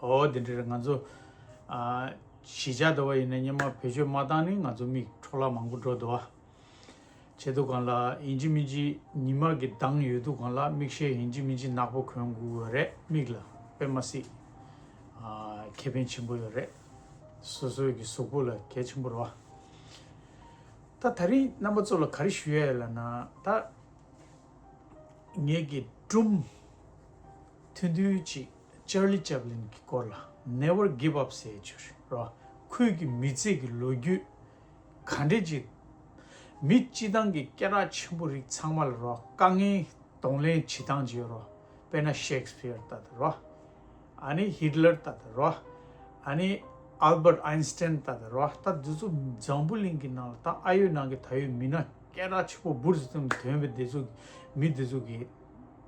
ཧོ། འདི་འདྲར་ང་ཚོ་གཞིས་ཆགས་འདུ་བ་ཡིན་ན་སྙེ་མ་བེད་སྤྱོད་མ་བཏང་ནི་ང་ཚོ་མིག་འཕྲོ་བརླག་མང་པོ་འགྲོ་འདུ་བ་བྱེད་འདུག་གང་ལ་ཡིན་ཅི་མིན་ཅི་ཉི་མ་གི་མདངས་ཡོད་འདུག་གང་ལ་མིག་ཤེལ་ཡིན་ཅི་མིན་ཅི་ནག་པོ་གོན་དགོས་ཡོད་རེད་མིག་ལ་དཔེ་མ་སྲིད་ཁེ་ཕན་ཆེན་པོ་ཡོད་རེད་སོ་སོའི་གི་གཟུགས་པོ་ལ་གལ་ཆེན་པོ་རེད་བ། ད་ད་རིང་རྣམ་པ་ཚོ་ལ་ག་རེ་ཞུ་ཡ་ཡོད་ལ་ན་ད་ངེད་ཀྱི་ཀྲུམ་ཐུན་ཐུན་ཅིག Charlie Chaplin གྱི་སྐོར་ལ Never Give Up ཟེར་བའི་བྱུས་རོ། ཁོས་ཀྱི་མི་ཚེ་གྱི་ལོ་རྒྱུས་ག་འདྲས་ཅིག་མི་སྤྱི་བཏང་གི་སྐད་གྲགས་ཆེན་པོ་རིགས་ཚང་མ་ལ་རོ་དཀའ་ངལ་གདོང་ལེན་བྱེད་སྟངས་ཅིག་རོ། དཔེར་ན Shakespeare ལྟ་དང་རོ། ཨ་ནི Hitler ལྟ་དང་རོ། ཨ་ནི Albert Einstein ལྟ་དང་རོ། ད་འདི་ཚོ་འཛམ་བུ་གླིང་གི་ནང་ལ་ད་ཨ་ཡོད་ནང་གི་ད་ཡོད་མི་སྣ་སྐད་གྲགས་ཆེན་པོ་འབུར་ཟིག་ཙམ་དོན་པའི་འདི་ཚོ་མི་འདི་ཚོ་གི།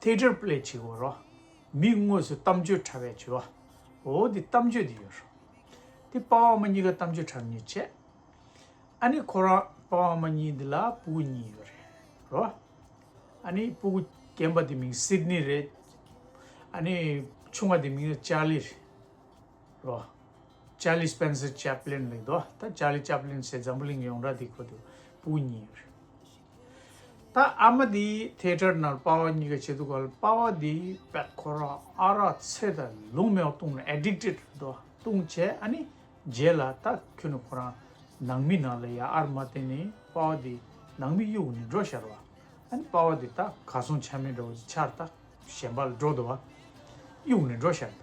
ཐེག་དབྲལ་པོ་ལས་བྱེད་འོ་རོ། མིག་དངོས་སུ་གཏམ་བརྗོད་ཕྲ་བས་བྱོས། འོ་འོ་འདི་གཏམ་བརྗོད་འདི་ཡོད་རོ། དེ་དཔའ་བ་མ་གཉིས་ཀ་གཏམ་བརྗོད་ཕྲ་མི་ཉོས་བྱས། ཨ་ནི་ཁོ་རང་དཔའ་བ་མ་གཉིས་འདི་ལ་སྤུ་གུ་གཉིས་ཡོད་རེད་རོ། ཨ་ནི་སྤུ་གུ་རྒན་པ་དེ་མིང་སིད་ནི་རེད། ཨ་ནི་ཆུང་བ་དེ་མིང་ལ་ཅཱ་ལི་རེད་རོ། ཅཱ་ལི་སྤེན་སེར་ཅཱ་པི་ལིན་རེད་དོ། ད་ཅཱ་ལི་ཅཱ་པི་ལིན་ཟེར་འཛམ་བུ་གླིང་གི་ཡོངས་གྲགས་དེ་ཁོ་དེ་སྤུ་གུ་གཉིས་ཡོད་རེད། ད་ཨ་མ་དེས་ཐལ་སྒྲར་ནར་དཔའ་བ་གཉིས་ཀ་བྱེད་འདུག་ག་ལ་དཔའ་བ་དེས་པད་ཁོ་ར་ཨ་རག་ཚེ་དང་ལུང་མེའོ་བཏུང་ནས addicted འགྲོ་བཏུང་བྱས་ཨ་ནི་རྗེས་ལ་ད་ཁྱོད་ནི་ཁོ་རང་ནང་མི་ནང་ལ་ཡ་ཨར་མ་དེ་ནི་དཔའ་བ་དེས་ནང་མི་གཡུག་ནི་འགྲོ་ཤར་བ་ཨ་ནི་དཔའ་བ་དེ་ད་ག་སོང་ཆ་མེད་འདྲ་བ་དེ་ཆར་ད་གཞན་པ་ལ་འགྲོ་འདུག་ག་གཡུག་ནི་འགྲོ་ཤར་ད།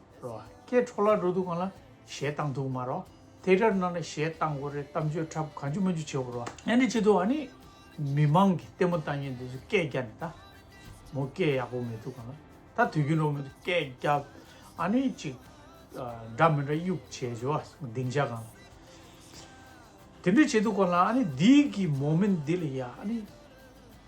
རོ། ཀྱེ་ཁྲོ་ལ་འགྲོ་འདུག་གང་ལ་ཞེས་བཏང་འདུག་མ་རོ། དེ་ལྟར་ན་ན་ཞེས་བཏང་གོ་རེ་གཏམ་བརྗོད་འཁྲབ་གང་ཅི་མ་འཇུ་བྱེད་པོ་རོ། ཨེ་ནི་ཅི་ཏུ་ཨ་ནི་མི་མང་གི་ལྟད་མོ་བལྟ་ཉེན་འདི་ཚོས་སྐད་རྒྱག་ནི་ད་མོ་སྐད་ཡག་པོ་མི་འདུག་གང་ལ་ད་དུས་རྒྱུན་རོགས་མི་འདུག་སྐད་རྒྱག་ཨ་ནི་ཅི། འདྲ་མི་འདྲ་དབྱུག་བྱེད་བྱེད་བ་སྡིངས་ཆ་གང་ལ། དེ་འདྲ་བྱེད་འདུག་གང་ལ་ཨ་ནི་འདི་གི་མོ་མི་འདི་ལ་ཡ་ཨ་ནི།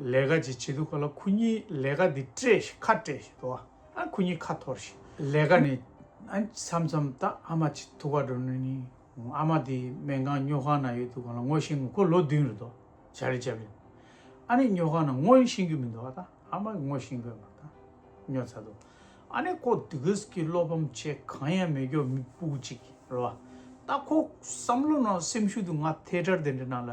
ལས་ཀ་ཅིག་བྱེད་དུས་ག་ལ་ཁོ་གཉིས་ལས་ཀ་འདི་སྤྲད་ཤིང་ཁ་སྤྲད་ཤིང་དུ་ཨ་ཁོ་གཉིས་ཁ་འཐོར་ཤིང་ལས་ཀ་ནི་ཨ་མཚམས་མཚམས་ད་ཨ་མ་ཅིག་ཐུག་པ་འགྲོ་ནུས་ནི་ཨ་མ་འདི་སྨན་ཁང་སྨྱོ་ཁང་ན་ཡོད་དུས་གང་ལ་ངོ་ཤེས་ངོ་ཁོ་ལོ་བདུན་རེད་དོ་བྱ་རེ་བྱ་མིན་ཨ་ནི་སྨྱོ་ཁང་ན་ངོ་ཤེས་གི་མིན་དུ་ཨ་ད་ཨ་མ་གི་ངོ་ཤེས་དགོས་མ་ད་སྨྱོ་ཚ་དུ་ཨ་ནི་ཁོ་དུས་གིས་གི་བློ་ཕམ་ཆེ་གང་ཡང་མི་སྐྱོ་མི་སྤུག་ཅིག་རེད་བ་ད་ཁོ་བསམ་བློ་ནང་སེམས་ཤུགས་དུ་ང་ཐལ་དྲར་དེ་འདྲ་ན་ལ།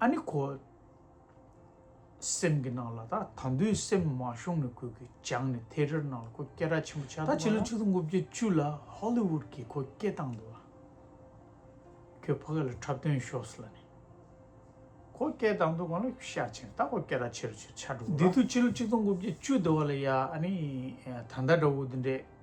ཨ་ནི་ཁོ། སེམས་ཀྱི་ནང་ལ་ད་ད་འདུས་སེམས་མ་ཤོང་ནི་ཁོས་ཁོས་སྦྱངས་ནི་དེ་རེར་ནང་ལ་ཁོ་སྐད་གྲགས་ཆེན་པོ་ཆགས་འདུག་ད་ཕྱི་ལོ་ཆིག་སྟོང་དགུ་བརྒྱ་བཅུ་ལ་ཧོ་ལི་ཝུད་ཀྱིས་ཁོ་སྐད་བཏང་འདུག་ལ། ཁོས་ཕ་ག་ལ་འཁྲབ་སྟོན་ཤོགས་ལ་ནི། ཁོ་སྐད་བཏང་འདུག་གང་ལ་ཤ་ཆེན་ད་ཁོ་སྐད་གྲགས་ཆེ་རུ་ཆེ་རུ་ཆགས་འགྲོ་གི་ར། འདི་ཐོས་ཕྱི་ལོ་ཆིག་སྟོང་དགུ་བརྒྱ་བཅུ་ཟླ་བ་ལ་ཡ་ཨ་ནི་ད་ད་འདྲ་བོ་འདི་འདྲས།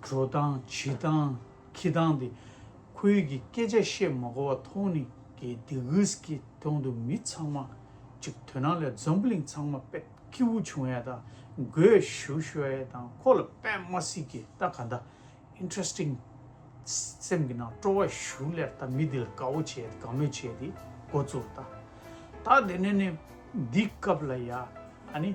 འགྲོ་སྟངས་བྱེད་སྟངས་ཁྱི་སྟངས་དེ། ཁོའི་ཡིད་ཀྱི་སྐད་ཆ་བཤད་མ་གོ་བ་མཐོང་ནི་གི་དེ་གིས་ཀྱི་དོང་དུ་མི་ཚང་མ་གཅིག་དོན་ནང་ལས་འཛམ་བུ་གླིང་ཚང་མ་པད་ཁྱི་བུ་ཆུང་ཡས་དང་གོས་བཞུ་ཤོ་ཡས་དང་ཁོ་ལ་པད་མ་སྲིད་ཀྱི་ད་ག་འདའ Interesting སེམས་ཀྱི་ནང་སྤྲོ་བ་བཞུ་ལེར་ད་མི་དེ་ལ་དགའ་བོ་བྱས་དགའ་མོས་བྱས་དེ་གོ་ཚུར་ད་ད་དེ་ནས་ནི་འདི་སྐབས་ལ་ཡ་ཨ་ནི།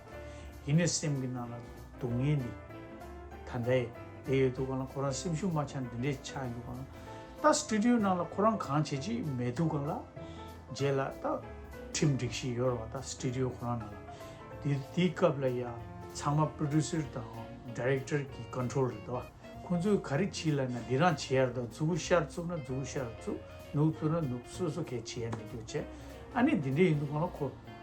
ཡིན་ནས་སེམས་ཀྱི་ནང་ལ་སྡུག་བསྔལ་འདི་ད་ལྟ་ཡེ་དེ་ཡོད་དུ་གང་ལ་ཁོ་རང་སེམས་ཤུགས་མ་ཆག་འདི་འདྲས་ཆག་འགྱུ་གང་ལ་ད Studio ནང་ལ་ཁོ་རང་གང་བྱེད་ཅིག་མེད་དུ་གང་ལ་རྗེས་ལ་ད་ཁྲིམས་སྒྲིག་ཤིག་ཡོད་རོགས་ད Studio ཁོ་རང་ནང་ལ་དེ་དེའི་སྐབས་ལ་ཡ་ཚང་མ Producer དང Director གི Control རེད་དོ་ཁོང་ཚོས་ག་རེ་བྱིད་ལ་ན་དེ་རང་བྱེད་ཡ་རེད་དོ་རྫུ་བུ་ཤར་བཙུགས་ན་རྫུ་བུ་ཤར་བཙུགས་ནུབ་བཙུགས་ན་ནུབ་སོ་སོ་གས་བྱེད་ཡ་མེད་དུ་བྱས་ཨ་ནི་འདི་འདྲས་ཡིན་དུ་གང་ལ་ཁོ།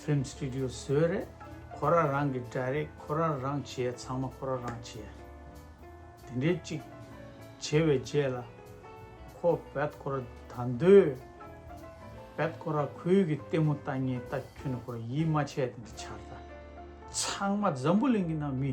ཕིལམ་སྟི་ཏུ་ཡོ་ཟོས་རེད་ཁོ་ར་རང་གི་སྒྲ་རེད་ཁོ་ར་རང་བྱས་ཚང་མ་ཁོ་ར་རང་བྱས་དེ་འདྲའི་གཅིག་བྱས་བའི་རྗེས་ལ་ཁོ་བད་ཁོ་ར་ད་འདོད་བད་ཁོ་ར་ཁོའི་གི་ལྟད་མོ་ལྟ་ངན་ལྟ་ཁྱོད་ནི་ཁོ་ར་ཡིད་མ་ཆད་དེ་འདྲ་བྱར་ད་ཚང་མ་འཛམ་བུ་གླིང་གི་ནང་མི་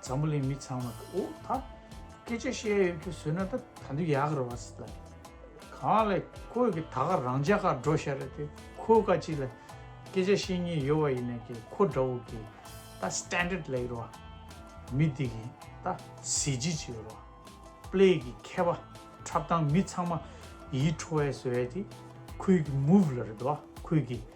ཛམ་བུ་ལའི་མི་ཚང་མ་ད་འོ་ད་སྐད་ཆ་བཤད་ཡོད་མཁན་བཟོས་ན་ད་ད་འདི་ཡག་རེད་བ་སི་ད་གང་ལ་ཁོས་ཀྱི་ད་ག་རང་ཅག་ག་འགྲོ་ཤ་རེད་དེ་ཁོས་ཀ་ཅིག་ལ་སྐད་ཆ་བཤད་ཉེན་ཡོད་བ་ཡིན་ན་ཀྱི་ཁོ་འདྲ་བོ་ཀྱི་ད standard ལ་ཡོད་བ་མི་འདི་གི་ད་གཟི་བརྗིད་ཅིག་ཡོད་བ play གི་མཁས་པ་འཁྲབ་སྟངས་མི་ཚང་མ་ཡིད་འཕྲོ་བས་བཟོས་བས་དེ་ཁོས་ཀྱི move ལ་རེད་བ་ཁོས་ཀྱི།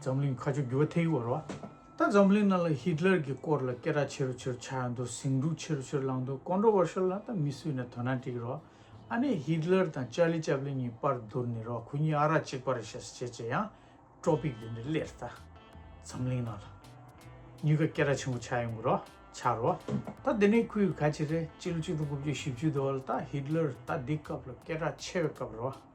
འཛམ་གླིང་ཁ་ཆུ་རྒྱུ་བ་ཐེག་བར་བ། ད་འཛམ་གླིང་ནང་ལ་ཧི་ཏི་ལར་གྱི་སྐོར་ལ་སྐད་གྲགས་ཆེ་རུ་ཆེ་རུ་ཆགས་ཡོང་དུས་ཟིང་འཁྲུག་ཆེ་རུ་ཆེ་རུ་ལངས་དུས Controversial ལ་ད་མི་སུས་ནས་དོ་སྣང་བྲིག་རོགས་ཨ་ནེ་ཧི་ཏི་ལར་དང་ཅཱ་ལི་ཅཱ་པ་ལིན་གཉིས་དཔར་བསྡུར་ནི་རོགས་ཁོ་གཉིས་ཨ་རག་གཅིག་པ་རེད་ཤ་སེ་བྱས་བྱས་ཡང Tropic འདི་འདྲ་སླེར་ད་འཛམ་གླིང་ནང་ལ་ཉུལ་ཁ་སྐད་གྲགས་ཆེན་པོ་ཆགས་ཡོང་གི་རོགས་ཆགས་རོགས་ད་འདི་ནས་ཁོའི་ག་ཅི་རེད་སྤྱི་ལོ་གཅིག་དང་དགུ་བཅུ་བཞི་བཅུའི་དུ་བ་ལ་ད་ཧི་ཏི་ལར་ད་འདི་སྐབས་ལ་སྐད་གྲགས་ཆེ་བའི་སྐབས་རེད་བ།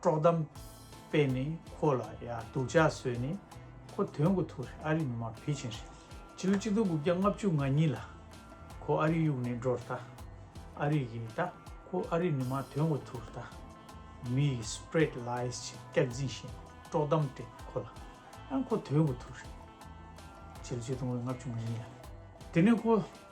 དཀྲོག་གཏམ་སྤེལ་ནས་ཁོ་ལ་ཡ་སྡུག་ཅག་བཟོས་ནས་ཁོ་དོན་གོ་ཐུག་རེད་ཨ་རིའི་མི་མང་ཕལ་ཆེན་རེད་ཕྱི་ལོ་གཅིག་སྟོང་དགུ་བརྒྱ་ལྔ་བཅུ་ང་གཉིས་ལ་ཁོ་ཨ་རིའི་གཡུག་ནས་འགྲོ་རེད་ད་ཨ་རིའི་གི་ད་ཁོ་ཨ་རིའི་མི་མང་དོན་གོ་ཐུག་རེད་ད་མི་ཡི spread lies ཆེད་སྐྱག་རྫིང་བཞིན་དཀྲོག་གཏམ་སྤྲད་ནས་ཁོ་ལ་ཡ་ཁོ་དོན་གོ་ཐུག་རེད་ཕྱི་ལོ་གཅིག་སྟོང་དགུ་བརྒྱ་ལྔ་བཅུ་ང་གཉིས་ལ་དེ་ནས་ཁོ།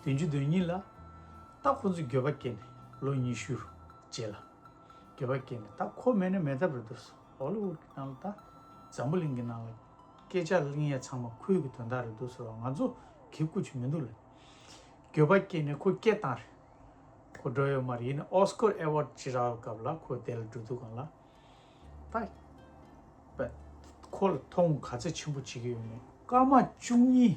བདུན་ཅུ་དོན་གཉིས་ལ། རྟ་ཁོ་ཚོས་འགྱོད་པ་སྐྱེས་ནས་ལོ་ཉི་ཤུ་རུ་བརྗེས་ལ། འགྱོད་པ་སྐྱེས་ནས་རྟ་ཁོ་མེད་ན་མེད་ཐབས་རེ་འདོད་སོ་འོ་ལེ་འུར་གྱི་ནང་ལ་དང། འཛམ་བུ་གླིང་གི་ནང་ལ། སྐད་ཆ་གླིང་ཡས་ཚང་མ་ཁོའི་གི་དོན་དག་རེ་འདོད་ཟེར་བ་ང་ཚོ་གི་སྐུ་ཆུ་མི་འདུག་ལ། འགྱོད་པ་སྐྱེས་ནས་ཁོ་སྐད་བཏང་རེ། ཁོ་འགྲོ་ཡོད་མ་རེད་ཡིན་ནའི་ཨོ་སྐོར་ཨེ་ཝོར་ཅི་རག་ལ་སྐབས་ལ་ཁོ་བསྡད་ལ་འགྲོ་འདུག་གང་ལ། ད། ཁོ་ལ་མཐོང་ག་ཚད་ཆེན་པོ་བྱེད་ཀྱི་ཡོད་མེད། སྐར་མ་བཅུ་གཉིས